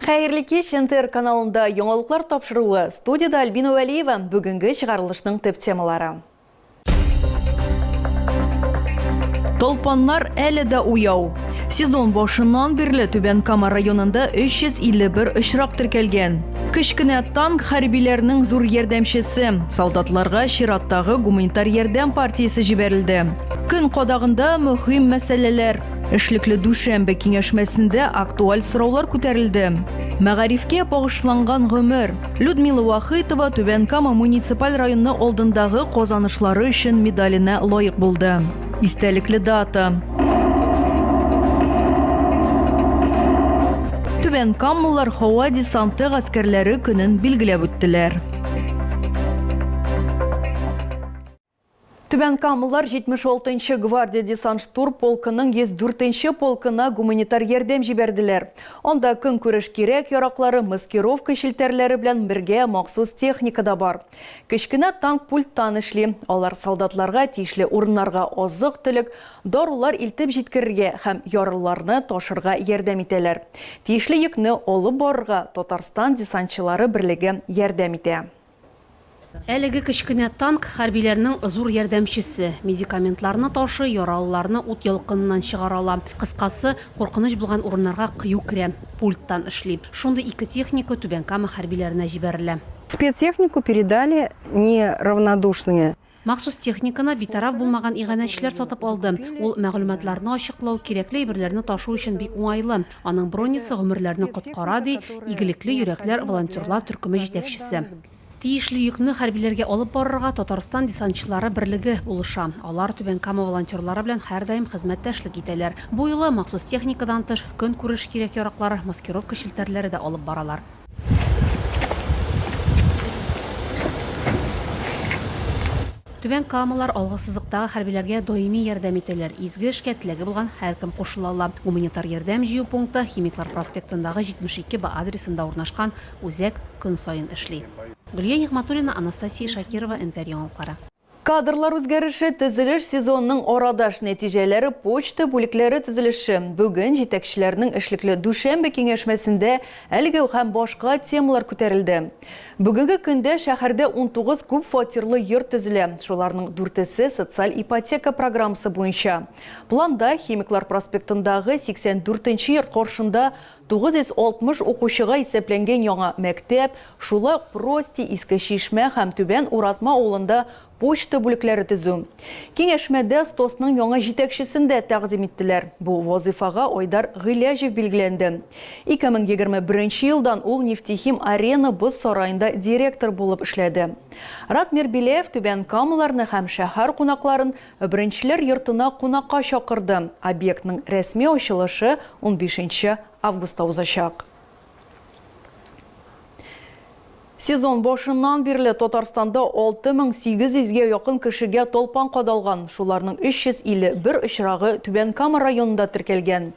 Хәерле кич, НТР каналында яңалыклар тапшыруы, студиядә Альбина Вәлиева, бүгенге чыгарылышның төп темалары. Талпаннар әле дә уяу. Сезон башыннан бирле Түбән Кама районында 351 очрак теркәлгән. Кечкенә танк хәрбиләрнең зур ярдәмчесе, солдатларга чираттагы гуманитар ярдәм партиясе җибәрелде. Көн кадагында мөһим мәсьәләләр. Эшлекле дүшәмбе киңәшмәсендә актуаль сораулар күтәрелде. Мәгарифкә багышланган гомер. Людмила Вахитова Түбән Кама муниципаль районы алдындагы казанышлары өчен медаленә лаек булды. Истәлекле дата. Түбән Камлылар һава десанты гаскәрләре көнен билгеләп үттеләр. Түбәнкамлылар 76 нчы гвардия десант-штурм полкының 104 нче полкына гуманитар ярдәм җибәрделәр. Анда көнкүреш кирәк-яраклары, маскировка челтәрләре белән бергә махсус техника да бар. Кечкенә танк пульттан эшли, алар солдатларга тиешле урыннарга азык-төлек, дарулар илтеп җиткерергә һәм ярлыларны ташырга ярдәм итәләр. Тиешле йөкне алып барырга Татарстан десантчылары берлеге ярдәм итә. Әлеге кечкенә танк, хәрбиләрнең зур ярдәмчесе. Медикаментларны ташый, яралыларны ут ялкыныннан чыгара ала. Кыскасы, куркыныч булган урыннарга кыю керә. Пульттан эшли. Шундый ике техника Түбән Кама хәрбиләренә җибәрелә. Спецтехнику передали не равнодушные Махсус техниканы битараф булмаган иганәчеләр сатып алды. Ул мәгълүматларны ачыклау, кирәкле әйберләрне ташу өчен бик уңайлы. Аның бронясы гомерләрне коткара, ди Игелекле йөрәкләр волонтерлар төркеме җитәкчесе. Тиешле йөкне хәрбиләргә алып барырга Татарстан десантчылары берлеге булыша. Алар Түбән Кама волонтерлары белән һәрдаим хезмәттәшлек итәләр. Бу юлы махсус техникадан тыш, көнкүреш кирәк-яраклары, маскировка челтәрләре дә алып баралар. Түбән Камалар алгы сызыктагы хәрбиләргә даими ярдәм итәләр, изге эшкә теләге булган һәркем кушыла ала. Гуманитар ярдәм җыю пункты Химиклар проспектындагы 72 Б адресында урнашкан үзәк көн саен эшли. Гөлия Нигъмәтуллина, Анастасия Шакирова, Энвәр яңалыклары. Кадрлар үзгәреше, төзелеш сезонының арадаш нәтиҗәләре, почта бүлекләре төзелеше. Бүген җитәкчеләрнең эшлекле дүшәмбе киңәшмәсендә әлеге һәм башка темалар күтәрелде. Бүгенге көндә шәһәрдә унтугыз күпфатирлы йорт төзелә, шуларның дүртесе социаль ипотека программасы буенча. Планда Химиклар проспектындагы сиксән дүртенче йорт каршында 960 укучыга исәпләнгән яңа мәктәп, шулай ук Прости, Иске Чишмә һәм Түбән Уратма авылында почта бүлекләре төзү. Киңәшмәдә СТОСның яңа җитәкчесен дә тәкъдим иттеләр. Бу вазыйфага Айдар Гыйләҗев билгеләнде. 2021 елдан ул Нефтехим-Арена боз сараенда директор булып эшләде. Ратмир Беляев түбән камаларны һәм шәһәр кунакларын Беренчеләр йортына кунакка чакырды. Объектның рәсми ачылышы унбишенче августта узачак. Сезон башыннан бирле Татарстанда 6800 гә якын кешегә талпан кадалган, шуларның 351 очрагы Түбән Кама районында теркәлгән.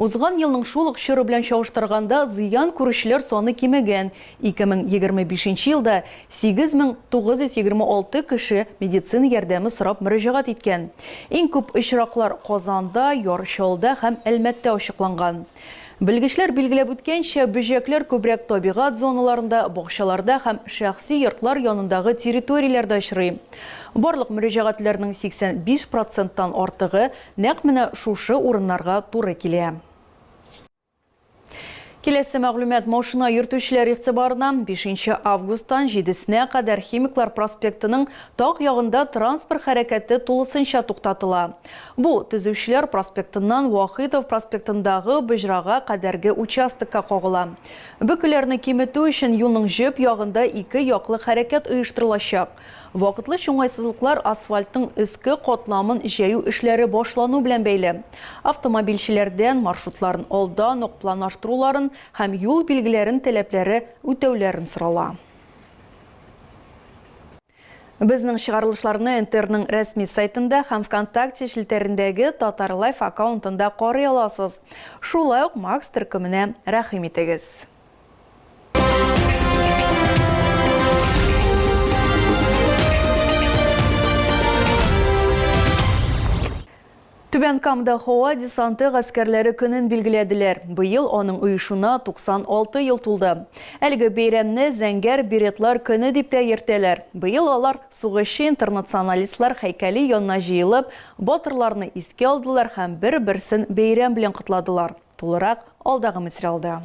Узган елның шул ук чоры белән чагыштырганда, зыян күрүчеләр саны кимегән, 2025 нче елда 8926 кеше медицина ярдәме сорап мөрәҗәгать иткән. Иң күп очраклар Казанда, Яр Чалда һәм Әлмәттә ачыкланган. Белгечләр билгеләп үткәнчә, бөҗәкләр күбрәк табигать зоналарында, бакчаларда һәм шәхси йортлар янындагы территорияләрдә очрый. Барлык мөрәҗәгатьләрнең 85 проценттан артыгы нәкъ менә шушы урыннарга туры килә. Киләсе мәгълүмат машина йөртүчеләр игътибарына, бишенче августтан җидесенә кадәр Химиклар проспектының таг ягында транспорт хәрәкәте тулысынча туктатыла. Бу, Төзүчеләр проспектыннан Вахитов проспектындагы боҗрага кадәрге участокка кагыла. Бөкеләрне киметү өчен юлның җөп ягында ике яклы хәрәкәт оештырылачак. Вакытлыч уңайсызлыклар асфальтның өске катламын җәю эшләре башлану белән бәйле. Автомобильчеләрдән маршрутларын алдан ук планлаштыруларын һәм юл билгеләрен таләпләре үтәүләрен сорала. Безнең чыгарылышларны НТРның рәсми сайтында һәм ВКонтакте челтәрендәге Татарлайф аккаунтында карый аласыз. Шулай ук Макс төркеменә рәхим итегез. Түбән Камда һава десанты гаскәрләре көнен билгеләделәр. Быел аның оешуына 96 ел тулды. Әлеге бәйрәмне Зәңгәр беретлар көне дип тә йөртәләр. Быел алар сугышчы интернационалистлар һәйкәле янына җыелып, батырларны искә алдылар һәм бер-берсен бәйрәм белән котладылар. Тулырак алдагы материалда.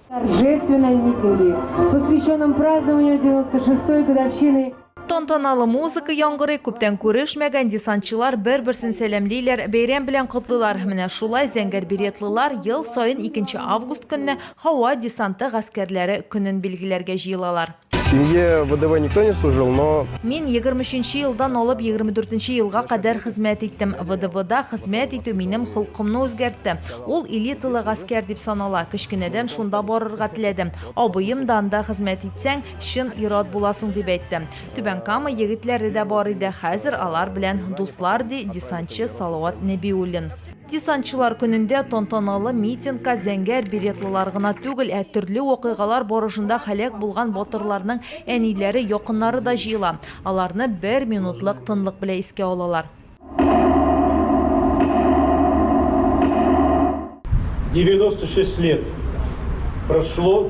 Торжественной митинги, посвященном празднованию 96-й годовщины Тантаналы музыка яңгырый, күптән күрешмәгән десантчылар бер-берсен сәламлиләр, бәйрәм белән котлыйлар. Менә шулай зәңгәр беретлылар ел саен 2 август көнне һава десанты гаскәрләре көнен билгеләргә җыелалар. семье ВДВ никто не служил, но... Мин 23 елдан алып 24 елга кадәр хезмәт иттем. ВДВда хезмәт итү минем холкымны үзгәртте. Ул элиталы гаскәр дип санала. Кечкенәдән шунда барырга теләдем. Абыем да анда хезмәт итсәң, чын ират буласың дип әйтте. Түбән Кама егетләре дә бар иде. Хәзер алар белән дуслар, ди десантчы Салават Нәбиуллин. Десантчылар көнендә тантаналы митингка зәңгәр беретлылар гына түгел, ә төрле вакыйгалар барышында һәлак булган батырларның әниләре, якыннары да җыела. Аларны бер минутлык тынлык белә искә алалар. Девяносто шесть лет прошло.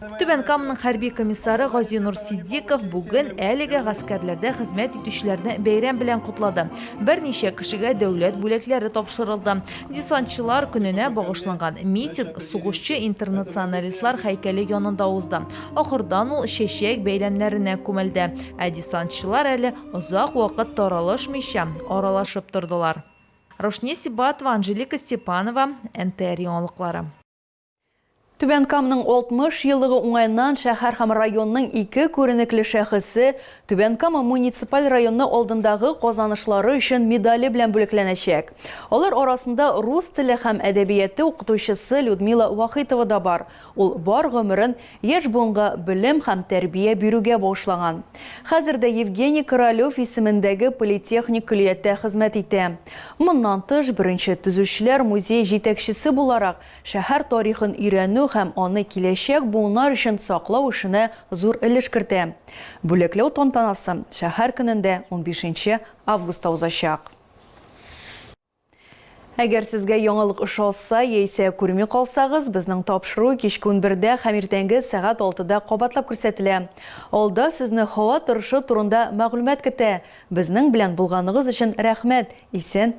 Түбән Каманың хәрби комиссары Газинур Сиддиков бүген әлеге гаскәрләрдә хезмәт итүчеләрне бәйрәм белән котлады. Берничә кешегә дәүләт бүләкләре тапшырылды. Десантчылар көненә багышланган митинг сугышчы интернационалистлар һәйкәле янында узды. Ахырдан ул чәчәк бәйләмнәренә күмелде. Ә десантчылар әле озак вакыт таралышмыйча, аралашып тордылар. Рушния Сибатова, Анжелика Степанова, НТР яңалыклары. Түбән Камның 60 еллыгы уңаеннан шәһәр һәм районның ике күренекле шәхесе Түбән Кама муниципаль районы алдындагы казанышлары өчен медале белән бүләкләнәчәк. Алар арасында рус теле һәм әдәбияты укытучысы Людмила Вахитова да бар. Ул бар гомерен яшь буынга белем һәм тәрбия бирүгә багышлаган. Хәзер дә Евгений Королев исемендәге политехник көллияттә хезмәт итә. Моннан тыш, беренче төзүчеләр музее җитәкчесе буларак, шәһәр тарихын өйрәнү һәм аны киләчәк буыннар өчен саклау эшенә зур өлеш кертә. Бүләкләү тантанасы шәһәр көнендә, унбишенче августта узачак. Әгәр сезгә яңалык ошаса яисә күрми калсагыз, безнең тапшыру кичке унбердә һәм иртәнге сәгать алтыда кабатлап күрсәтелә. Алда сезне һава торышы турында мәгълүмат көтә. Безнең белән булганыгыз өчен рәхмәт, исән